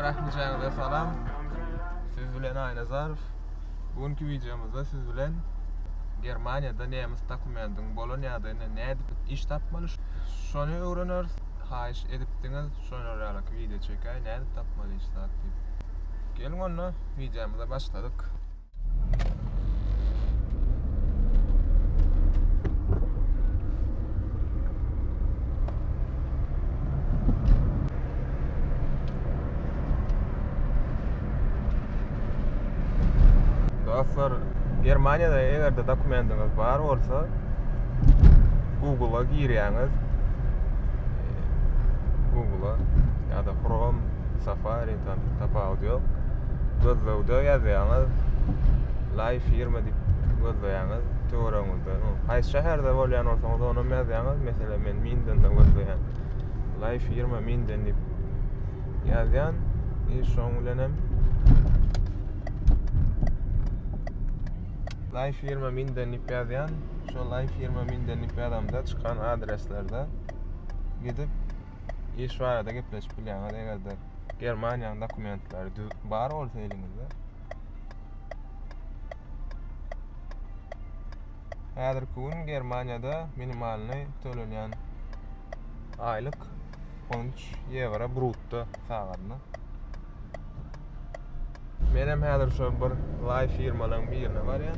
Rahmijanyza salam. Siz bilen Aýnazarow. Bu günki wideomyzda siz bilen Germaniýada nemes dokumendiň bolan ýagdaýynda nädip iş tapmaly şony öwreneris. Haýyş edipdiňiz şonaralyk wideo çekäý nädip tapmaly iş zat diýip. Geliň onda wideomyza başladyk. Dostlar, Germaniýada eger-de dokumendiňiz bar bolsa, Google-a girýäňiz. Google-a ýa-da Chrome, Safari ýokdan tapawudy ýok gözlegde ýazýaňyz laý firma diýip gözleýäňiz töweregiňizde haýsy şäherde bolýan bolsaňyz onam ýazýaňyz meselem men mindenden gözleýän laý firma minden diýip ýazýan i şoň bilenem laý firma minden diýip ýazýan şo laý firma minden diýip ýazamda çykan adreslerde gidip iş barada gepleşip bilýäňiz egerde Germaniýanyň dokumentleri düz bar bolsa eliňizde. Häzirki gün Germaniýada minimalny tölenýän aýlyk 13 ýewro brutto sagadyna. Men hem häzir şu bir lay firmalaryň birine barýan.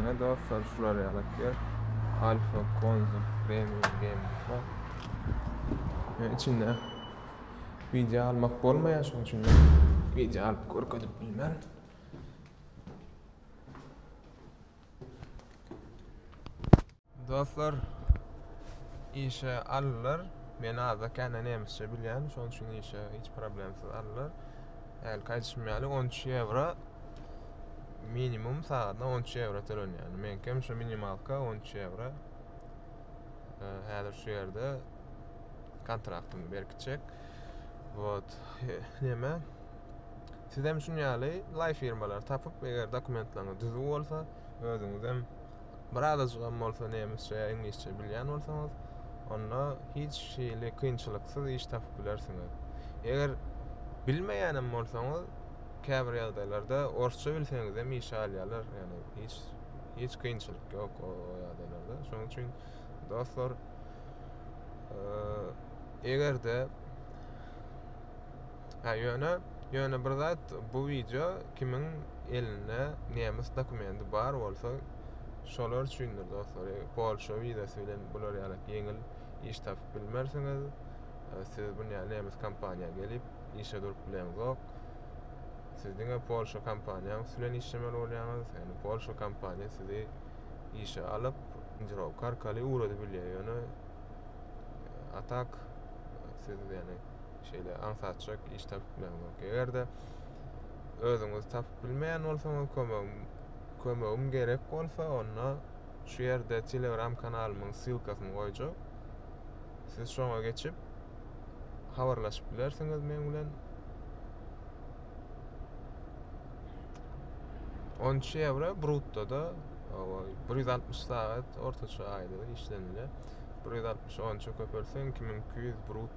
Ine dostlar şular ýaly ýer. Alfa Konzum Premium Gaming'da. Yani içinde video almak bolmaýar şonuň üçin video alyp görkezip bilmän. Dostlar işe aldylar. Men azda kände nemisçe bilýän, şonuň üçin işe hiç problemsiz aldylar. Hälki aýdyşym ýaly 13 ýewro minimum sagatyna 13 ýewro tölenýär. Menkem şu minimalka 13 ýewro. Häzir şu ýerde kontraktymy berkitjek. Wot, näme? Siz hem şuň ýaly laý firmalary tapyp, eger dokumentlaryňyz düzüw bolsa, özüňiz hem bir azajygam bolsa nemisçe ýa iňlisçe bilýän bolsaňyz, onda hiç hili kynçylyksyz iş tapyp bilersiňiz. Eger bilmeýänem bolsaňyz, käbir ýagdaýlarda orsça bilseňizem işe alýarlar, ýagny hiç hiç kynçylyk ýok o ýagdaýlarda. Şonuň üçin dostlar, eee, eger-de Hä ýöne ýöne bir zat bu wideo kimiň elinde nemes dokumendi bar bolsa şolar üçindir dostlar polşa wizasy bilen bular ýaly ýeňil iş tapyp bilmersiňiz siz bu nemes kompaniýa gelip işe durup bileňizok siz diňe polşa kompaniýa bilen işlemeli bolýaňyz ýöne polşa kompaniýa sizi işe alyp injirovka arkaly ugradyp bilýär ýöne atak siz ýöne Şeýle aňsatjak iş tapyp bilmeňok. Eger-de özüňiz tapyp bilmeýän bolsaňyz, kömegim kömegim gerek bolsa, onda şu ýerde Telegram kanalymyň ssylkasyny goýjak. Siz şoňa geçip habarlaşyp bilersiňiz meň bilen. 13 ýewro bruttoda 160 sagat ortaça aýda işlenilýär. 160 onça köpeltseň 2200 brutto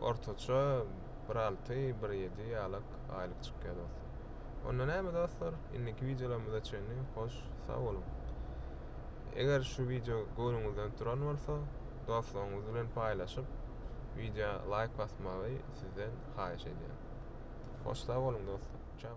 Ortaça bir alty, bir ýedi ýalak aýlyk çykýar dostlar. Onda näme dostlar, indiki wideolarymyza çenli hoş sag boluň. Eger şu wideo göwnüňizden turan bolsa, dostlaryňyz bilen paýlaşyp, wideo laýk basmagy sizden haýyş edýän. Hoş sag boluň dostlar. Çao.